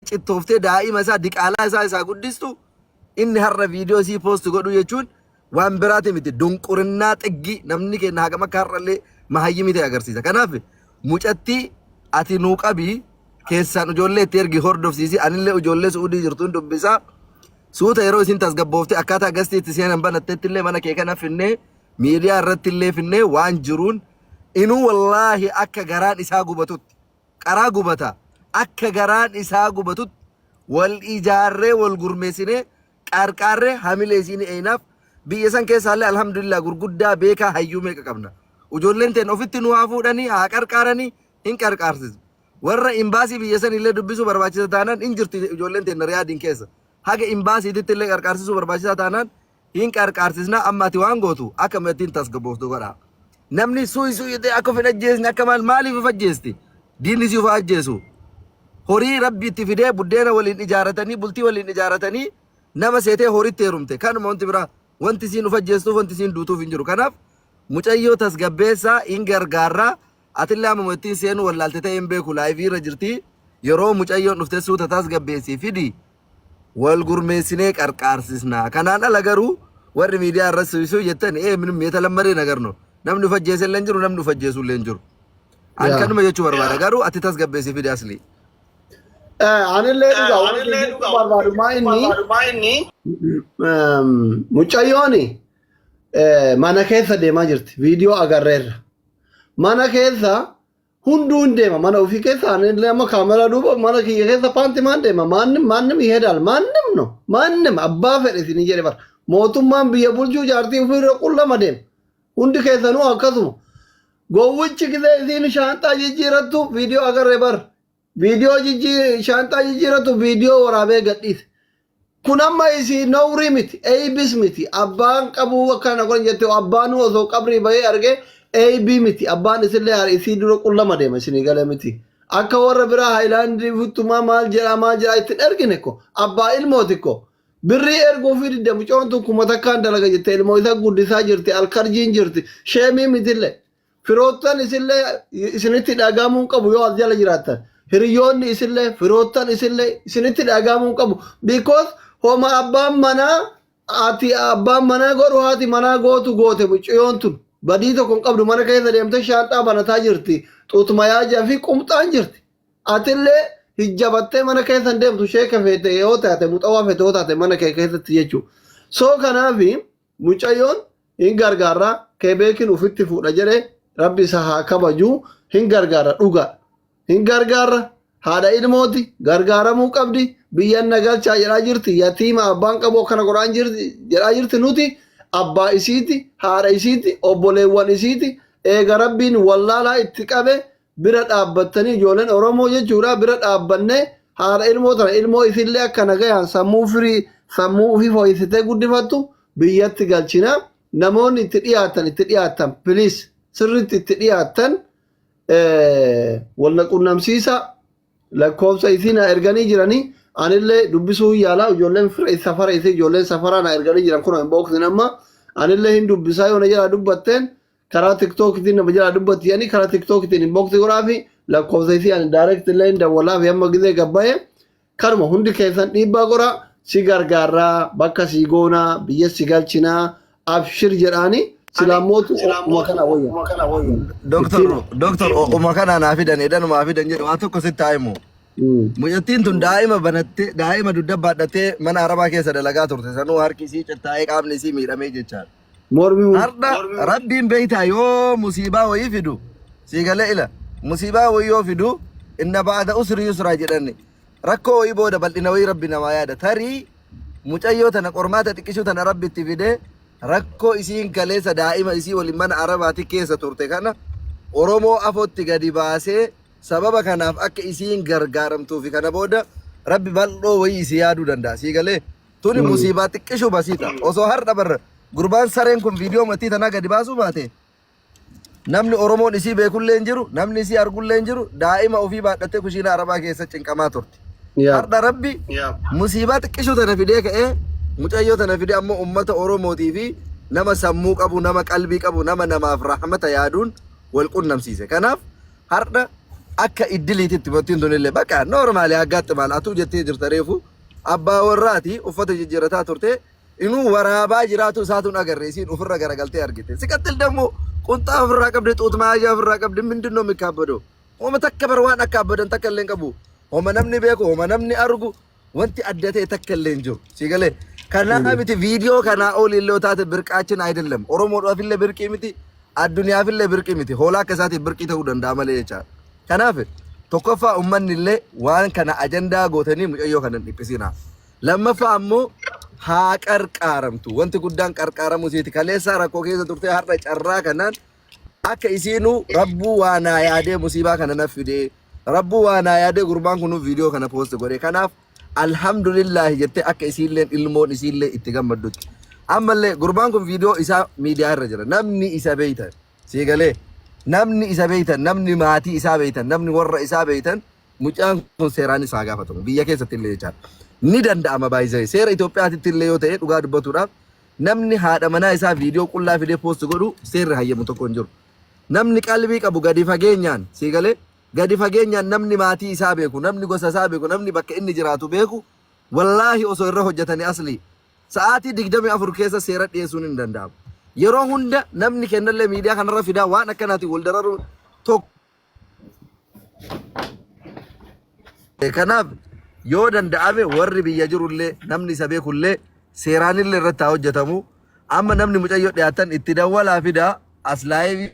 cittooftee daa'ima isaa diqaalaa isaa isaa guddistu inni har'a viidiyoo isii poosti godhu jechuun waan biraati miti dunqurinnaa xiggi namni keenya hagam akka har'allee mahayyimi ta'e agarsiisa. Kanaaf mucatti ati nuu qabi keessaan ijoollee itti ergi hordofsiisi anillee ijoollee su'uudii jirtuun dubbisaa suuta yeroo isin tasgabboofte akkaataa gastii itti seenan banattetti illee mana kee kana finnee miidiyaa irratti illee finnee waan jiruun inuu wallaahi akka garaan isaa gubatutti qaraa gubata akka garaan isaa gubatutti wal ijaarree wal gurmeessinee qaarqaarree hamilee isii ni eeynaaf biyya san keessaallee alhamdulillah gurguddaa beekaa hayyuu meeqa qabna ujoolleen teen ofitti nu haa fuudhanii haa qarqaaranii hin qarqaarsisu warra imbaasii biyya san illee dubbisuu barbaachisa taanaan hin jirti ujoolleen teen riyaadiin keessa haga imbaasiititti illee qarqaarsisuu barbaachisaa taanaan Hin qarqaarsisnaa amma ati waan gootu akka mattiin tasgabbooftu godhaa. Namni suuyi suuyi ta'e akka of hin ajjeesne akka maal maaliif of ajjeesti? Diinni si of haa ajjeesu. Horii rabbi itti fidee buddeena waliin ijaaratanii bultii waliin ijaaratanii nama seetee horitti heerumte kanuma wanti biraa wanti isiin of ajjeestuuf wanti isiin duutuuf hin jiru. Kanaaf mucayyoo tasgabbeessaa hin gargaarraa Atillee ammuma ittiin seenuu wallaalte ta'ee hin beeku laayivii irra jirti. Yeroo mucayyoon dhufte suuta tasgabbeessii fidi wal gurmeessinee qarqaarsisna. Kanaan ala garuu warri miidiyaa irra suisuu jettan ee minim yetalammadee nagar no. Namni of ajjeese illee hin jiru namni of ajjeesu illee hin jiru. An Yaa. kanuma jechuu barbaada garuu ati tasgabbeessii fidi aslii. Eh, Anillee dhugaa waan Anillee jechuu dhugaa waan barbaadu maa inni barbaadumaa inni ehm, mucayyooni eh, mana keessa deemaa jirti viidiyoo agarreerra. mana keessa hunduu hin deema mana ofii keessa ani illee amma kaameraa duuba mana kiyya keessa paanti maan deema maannim maannim ihedaal maannim no maannim abbaa fedhe isin jedhe bara mootummaan biyya bulchuu jaartii ofii irra qullama deema hundi keessanuu akkasuma gowwichi gisee isiin shaanxaa jijjiirattu viidiyoo agarre bar Viidiyoo jijjii shaanxaa jijjiiratu viidiyoo waraabee gadhiise. Kun amma isii nowrii miti, eeybis miti. Abbaan qabuu akkana kun jette abbaanuu osoo qabrii bahee argee eeybii miti. Abbaan isillee hari isii dura qullama deema isinii galee miti. Akka warra biraa haayilaandii futtumaa maal jedhaa maal jedhaa ittiin ergine ko abbaa ilmooti ko. Birrii erguu fi didda mucoon tun kuma takkaan dalaga jette ilmoo isa guddisaa jirti alkarjiin jirti sheemii mitillee. Firoottan isillee isinitti dhagahamuu hin qabu yoo as jala jiraattan. Hiriyoonni isillee firoottan isillee isinitti dhagahamuu hin qabu. Because homa abbaan manaa ati abbaan manaa godhu haati manaa gootu goote mucayyoon tun. Badii tokko hin qabdu mana keessa deemtee shaanxaa banataa jirti. Xuutmayaajaa fi qumxaan jirti. Atillee hijjabattee mana keessa hin deemtu sheeka feete yoo taate muxawaa feete yoo taate mana kee keessatti jechuudha. So kanaafi Mucayyoon hin gargaarra kebeekin ufitti fuudha jedhe rabbi isa haa kabaju hin gargaarra dhugaa hin gargaarra haadha ilmooti gargaaramuu qabdi biyyan na galchaa jedhaa jirti yatiima abbaan qabu akkana godhaan jirti jedhaa jirti nuti abbaa isiiti haadha isiiti obboleewwan isiiti eega rabbiin wallaalaa itti qabe bira dhaabbattanii ijoolleen Oromoo jechuudha bira dhaabbanne haadha ilmoo tana ilmoo isillee akka nagayaan sammuu firii sammuu ofii fooyyessitee guddifattu biyyatti galchina namoonni itti dhiyaatan itti dhiyaatan piliis sirriitti itti dhiyaatan walna qunnamsiisa lakkoofsa isii na erganii jiranii anillee dubbisuu yaalaa ijoolleen fira safara isii ijoolleen safaraa na erganii jiran kun hin booksin amma anillee hin dubbisaa yoo na jalaa dubbatteen karaa tiktookitiin nama jala dubbatti jedhanii karaa tiktookitiin inbox godhaafi lakkoofsa isii ani direct illee hin dawwalaafi amma gizee gabbaa'e kanuma hundi keessan dhiibbaa godhaa si gargaarraa bakka si goonaa biyya si galchinaa abshir jedhaanii silaamootu uma kana wayya. Doktor doktor uma kana naa fidan edan uma fidan jedhu waan tokko sitti haa himu. Mucattiin tun daa'ima banattee daa'ima dugda baadhattee mana arabaa keessa dalagaa turte sanuu harki isii cittaa'ee qaamni isii miidhamee jechaadha. Mormi hu- Hardha rabbiin beeytaa yoo musiibaa wayii fidu sii galee ila musiibaa wayii yoo fidu inna ba'ada usri yusraa jedhanni rakkoo wayii booda bal'ina wayii rabbi namaa yaada tarii mucayyoo tana qormaata xiqqishuu tana rabbi itti fide rakkoo isiin kaleessa daa'ima isii waliin mana arabaati keessa turte kana oromoo afootti gadi baasee sababa kanaaf akka isiin gargaaramtuufi kana booda rabbi bal'oo wayii isii yaaduu danda'a sii galee Tuni Mm. musiibaa xiqqishuu basiita. Osoo har'a barra gurbaan sareen kun viidiyoo matii tanaa gadi baasuu baate namni Oromoon isii beekullee hin jiru, namni isii argullee hin jiru, daa'ima ofii baadhattee kushiina arabaa keessa cinqamaa turte. Yaa. Har'a rabbi musiibaa xiqqishuu tana fidee ka'ee mucayyoo tana fidee ammoo uummata Oromootii fi nama sammuu qabu, nama qalbii qabu, nama namaaf rahmata yaaduun wal qunnamsiise. Kanaaf har'a akka iddiliititti bottiin tunillee bakka noormaali haggaatti maal atuu jettee jirta reefu Abbaa warraati uffata jijjiirrataa turte. Inuu waraabaa jiraatu isaatu hin agarre isiin ofirra garagaltee argite. Siqattil dammoo qunxaa ofirraa qabde xuut maayyaa ofirraa qabde mindinno mikkaabbadoo. Homa takka bar waan akka abbadan takka illee hin qabu. Homa namni beeku homa namni argu wanti adda ta'e takka illee hin jiru. Sii galee kanaa miti viidiyoo kanaa olii illee yoo taate birqaachin ayidillam. Oromoodhaaf illee birqii miti. addunyaafillee birqii miti. Hoolaa akka isaatiif birqii ta'uu danda'a malee jechaadha. Kanaaf tokkoffaa ummanni illee waan kana ajandaa gootanii mucayyoo kana hin dhiphisinaa. Lammaffaa ammoo haa qarqaaramtu. Wanti guddaan qarqaaramuu isiiti. Kaleessaa rakkoo keessa turtee har'a carraa kanaan akka isiinuu rabbuu waa naa yaadee musiibaa kana naf fidee rabbuu waa naa yaadee gurbaan kun viidiyoo kana poosti godhe. Kanaaf alhamdulillaahi jettee akka isiilleen ilmoon isiillee itti gammaddutti. Ammallee gurbaan kun viidiyoo isaa miidiyaa irra jira. Namni isa beeytan sii galee namni isa beeytan namni maatii isaa beeytan namni warra isaa beeytan mucaan kun seeraan isaa gaafatamu biyya keessatti illee jechaa ni danda'ama baay'isee seera Itoophiyaatitti illee yoo ta'e dhugaa dubbatuudhaaf namni haadha manaa isaa viidiyoo qullaa fidee poosti godhu seerri hayyamu tokko hin jiru. Namni qalbii qabu gadi fageenyaan sii galee Gadi fageenyaan namni maatii isaa beeku, namni gosa isaa beeku, namni bakka inni jiraatu beeku wallaahi osoo irra hojjatani aslii sa'aatii 24 keessa seera dhiyeessuun hin danda'amu. Yeroo hunda namni kennallee miidiyaa kanarra fidaa waan akkanaatiin wal dararuu tokko Kanaaf yoo danda'ame warri biyya jirullee namni isa beekullee seeraanillee irratti haa hojjetamu. Amma namni mucayyoo dhiyaatan itti dawwalaa fidaa as laayivii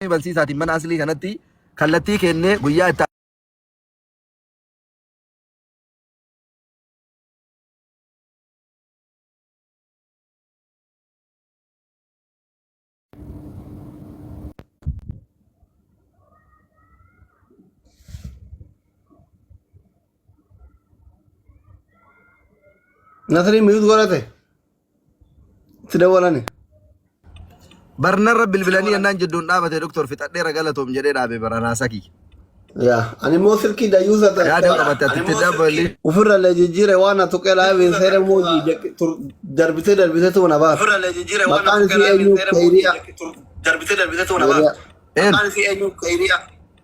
Damee barsiisaatiin mana aslii kanatti kallattii keennee guyyaa itti Nasri mute godhate. Itti dawwalani. Barnarra bilbilanii yennaan jidduun dhaabate doktor fixadheera galatoom jedhee dhaabe bara raasaa kiyya. Yaa ani immoo silkii dayyuusa ta'e Yaada qabatte ati itti dabalii. ofirra illee jijjiire waan na tuqee laabiin seera immoo darbitee darbitee tuun na baasa. Ofirra illee jijjiire waan Maqaan isii eenyu? Kayriyaa. Darbitee darbitee tuun na baasa. Maqaan isii eenyu? Kayriyaa.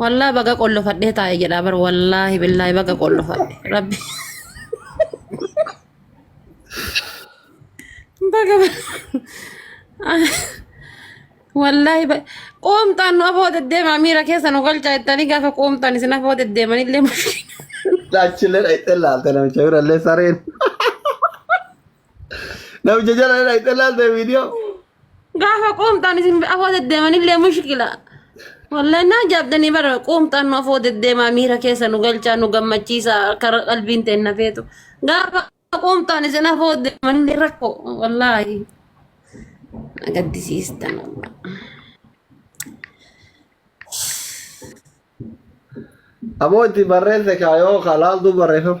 Wallah baga qollofadhee taa'e jedha bar wallaahi billaahi baga qollofadhe rabbi baga wallaahi ba- qoomxaan nu afoo deddeemaa miira keessa nu galchaa jettanii gaafa qoomxaan isin afoo deddeeman illee mushkila Achillee dhaqxee laalte namicha birallee sareen. Namicha jala dha itti laalte viidiyoo. Gaafa quumtaan isin afoo deddeeman illee mushkila. Wallahi naa jaabdanii bara quumtaan nu afoo deddeemaa miira keessa nu galchaa nu gammachiisa karaa qalbiin ta'e na feetu. Gaafa quumtaan isin afoo deddeeman illee rakko wallahi. Na gaddisiistan wallahi. Amoo itti barreesse kaayoo ka laaltuu barreeffama.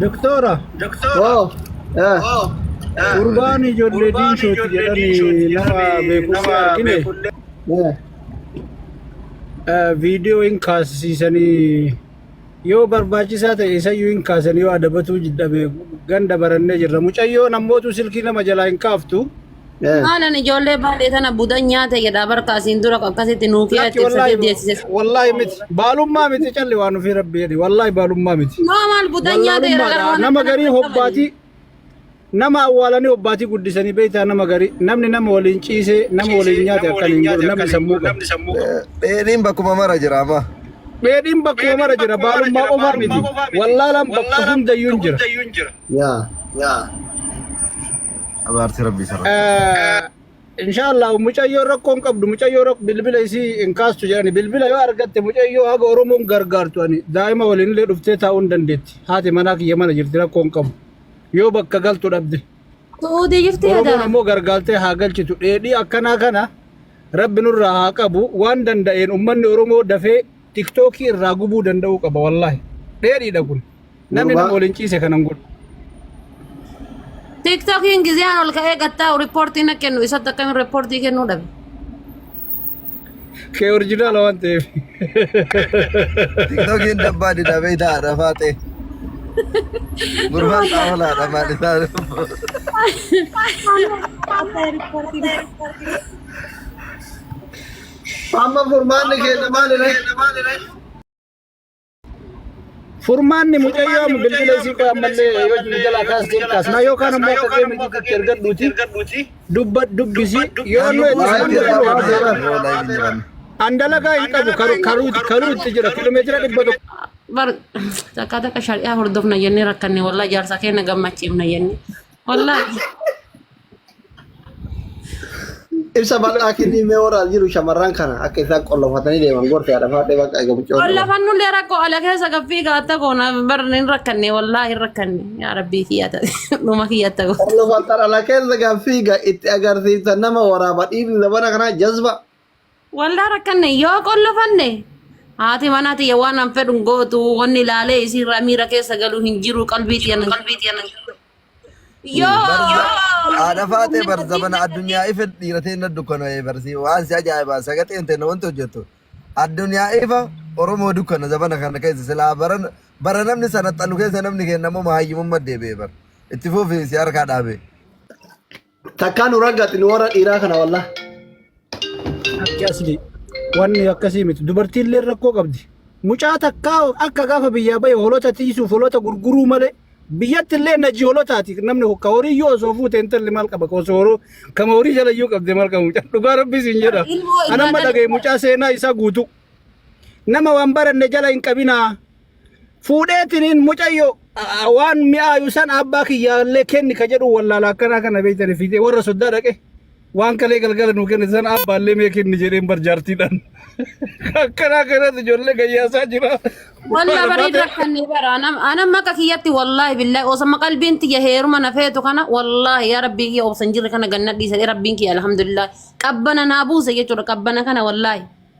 Doktora, Wow. Eh. gurbaan ijoollee diinsooti jedhanii nama beekullee argine Eh. eh, viidiyoo hin kaasisiisanii yoo barbaachisaa ta'e isayyuu hin kaasan yoo adabatuu jidhame ganda barannee jirra. Mucayyoon ammootu silkii nama jalaa hin kaaftu. Eh, Maalan ijoollee baadhee tana budan nyaate jedha barka asiin dura akkasitti nuu kee Lakki itti wallaahi ibsatee deessise. wallaahi miti baalummaa miti calli waan ofii rabbi jedhi wallaahi baalummaa miti. Noo maal budan nyaate jedha gara Wallaalummaadha waan nama akkana garii hin qabani. hobbaatii nama awwaalanii hobbaatii guddisanii beektaa nama garii namni nama waliin ciisee nama waliin nyaate akkan hin godhu namni sammuu qabu. Eh, Dheedhiin bakkuma mara jira amma. Dheedhiin bakkuma mara jira baalummaa qofaa miti wallaalaan bakka hundayyuu hin jira. yaa yaa abaartii rabbii sarara inshaallah mucayyoo rakkoo hin qabdu mucayyoo rakk bilbila isii hin kaastu jedhani bilbila yoo argatte mucayyoo haga oromoon gargaartu ani daa'ima waliin illee dhuftee taa'uu hin dandeetti haati manaa kiyya mana jirti rakkoo hin qabu yoo bakka galtu dhabde Su'uudii jirti oromoon yadaa. ammoo gargaartee haa galchitu dheedhii akkanaa kana rabbi nurraa haa qabu waan danda'een ummanni oromoo dafee tiktookii irraa gubuu danda'uu qaba wallaahi dheedhiidha kun Namni Gurbaa. nama waliin ciise kana hin godhu. Tiktokiin giziyaan ol ka'ee gattaa'u riippoortii na kennu isatti akkamiin riippoortii kennuu dhabe. Kee orjinaala waan ta'eef. Tiktokiin dabbaa dida beeytaa haadha faaxee. Gurbaan xaawola haadha maal isaa. Amma furmaanni keenya maalidha? Furmaanni mucayyoo amma bilbila isii qoy ammallee yoo nu jalaa kaas deem kaas na yookaan ammoo akka kee miti itti ergadhuuti dubba dubbisi yoo nu itti isaan godhu an dalagaa hin qabu karu- karuu karuu itti jira kilomeetira dhibba tokko bar takka takka shari'aa hordofna jennee rakkanne wallahi jaarsa keenya gammachiifna jennee wallahi Ibsa bal'aa kennii mee warra as jiru shamarran kana akka isaan qollofatanii deeman gorsi haadha faadhee bakka eega buccoo. Qollafan nullee rakkoo ala keessa gaffii gaatta goona barri hin rakkanne wallaahi hin rakkanne yaa rabbii kiyya ta'e dhuma kiyya ta'e goota. Qollofatan ala keessa gaaffii ga itti agarsiisa nama waraaba dhiirri labana kanaa jazba. Waldaa rakkanne yoo qollofanne haati manaa tiyya waan an fedhu hin gootu wanni ilaalee isiirraa miira keessa galu hin jiru qalbii tiyya nan yoo Haadha faatee bar zabana addunyaa ife dhiirateen na dukkana barsi waan si ajaa'ibaa sagaxeen ta'e wanti hojjettu addunyaa ifa Oromoo dukkana zabana kana keessa silaa bara bara namni sana xalu keessa namni keenya ammoo hayyumummaa deebi'e bar itti fufi si harkaa dhaabee. Takkaa nu raggati nu warra dhiiraa kana wallah. Akki asli wanni akkasii miti dubartiillee rakkoo qabdi. Mucaa takkaa akka gaafa biyyaa bahe holota tiisuuf holota gurguruu malee biyyatti illee naji holotaati namni ka horii yoo osoo fuute intalli maal qaba ka osoo horoo kama horii jala yoo qabde maal qaba mucaa dhugaa rabbi siin jedha. Ilmoo Anamma ilmaa dhagaye mucaa seenaa isaa guutuu. Nama waan baranne jala hin qabinaa. fuudheetiniin mucayyo a- waan mi'aayu san abbaa kiyyaallee kenni ka jedhu wallaala akkanaa kana beeytani fiixee warra soddaa dhaqe waan kalee galgala nuu kennite san abbaallee mee kenni jedheen barjaartiidhaan akkanaa kanatti ijoollee gayyaasaa jira. Wallah bareeda rakkanne bara anam anam maqa kiyyatti wallahi billahi osama qalbiin tiyya heeruma na feetu kana wallahi yaa rabbii kiyya obsan jirre kana ganna dhiisa rabbiin kiyya alhamdulillah qabbana naa buuse jechuudha qabbana kana wallahi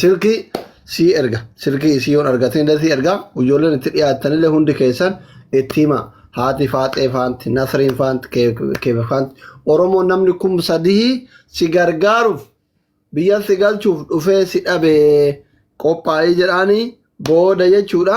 Silkii sii erga. Silkii isii yoon argatin illee sii erga. Ijoolleen itti dhiyaattan illee hundi keessan itti hima. Haati Faaxee faanti, Nasriin faanti, Keebe faanti. Oromoo namni kum sadihii si gargaaruuf biyya si galchuuf dhufee si dhabee qophaa'ii jedhaanii booda jechuudha.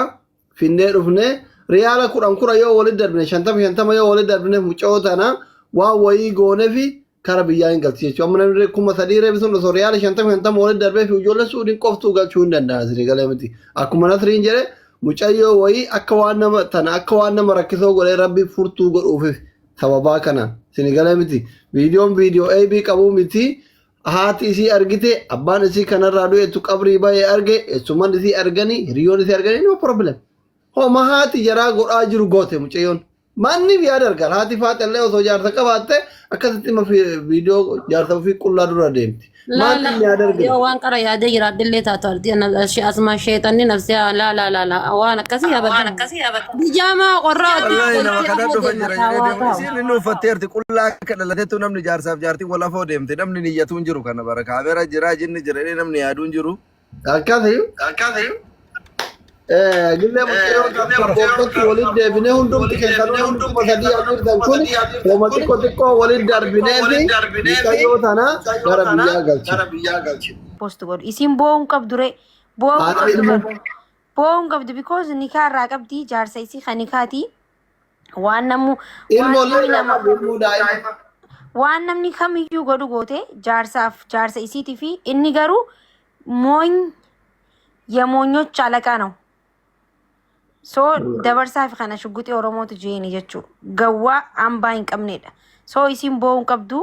Finnee dhufnee riyaala kudhan kudha yoo walitti darbine shantama shantama yoo walitti darbine mucoo tana waan wayii goonefi kara biyyaa hin galchi jechuudha. Amma namni kuma sadii reebi sun osoo riyaala shantama shantama walitti darbee fi ijoollee suudhiin qoftuu galchuu hin danda'an isinii galee miti. Akkuma nasriin jedhe mucayyoo wayii akka waan nama tana akka waan nama rakkisoo godhee rabbi furtuu godhuufif sababaa kanaan isinii galee miti. Viidiyoon viidiyoo AB qabuu miti. Haati isii argite abbaan isii kanarraa du'etu qabrii bahee arge eessuman isii arganii hiriyoon isii arganii no problem. Homa haati jaraa godhaa jiru goote mucayyoon. Maanniif yaada argaan haati faaxallee osoo jaarsa qabaatte akkasitti ma viidiyoo jaarsa ofii qullaa dura deemti. Maanniif yaada Laala argina. yoo waan qara yaadee jiraadhillee taatu ardi asmaa sheexanni nafsee laala laala waan akkasii yaabatan. Bijaamaa qorraa wajjin Wallahi nama galtee kanaan ammoo dhufa deema jira jedhee taawaa deemu. taa'u. Isiin inni uffatteerti qullaa akka dhalateettu namni jaarsaaf jaartii wal afoo deemte namni niyyatuun jiru kana bara kaamera jira jinni jira jedhee namni yaaduun jiru. Akkasi gillee mucayyoo tokkotti waliin deebinee hundumti keessan hundumti kuma sadii hafirtan kun hooma xiqqoo xiqqoo waliin darbinee fi mucayyoo tana gara biyyaa galchina. post godhu isiin boo'uun qabdu ree boo'uun Haadha qabdu ilmoo. kan boo'uun qabdu because nikaa irraa qabdi jaarsa isii kan nikaati waan namuu waan Ilmoo namni illee nama irraa ilmoo daa'ima. waan namni kamiyyuu godhu goote jaarsaaf jaarsa isiitii fi inni garuu mooñ yemoonyoch alaqaa ነው so dabarsaa fi kana shugguxii oromootu jeeni jechuu gawwaa hambaa hin qabneedha so isiin boo'uu hin qabdu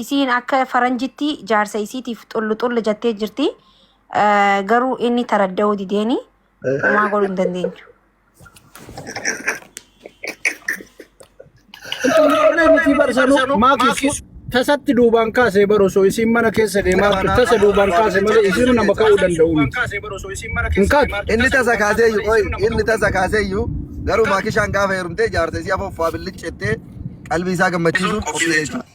isiin akka faranjitti jaarsa isiitiif xullu xullu jettee jirti Eh, garuu inni taradda'uu dideeni homaa godhuu hin dandeenyu Intalli miti barsanuu maakis tasatti duubaan kaasee bar osoo isiin mana keessa deemaa jirtu tasa duubaan kaase malee isiin nama ka'uu danda'u miti. Hin kaatu. Inni tasa kaaseeyyu qoy inni tasa kaaseeyyu garuu maakishaan gaafa heerumtee jaarsa isii afoffaa billichettee qalbii isaa gammachiisuuf qophii jechuudha.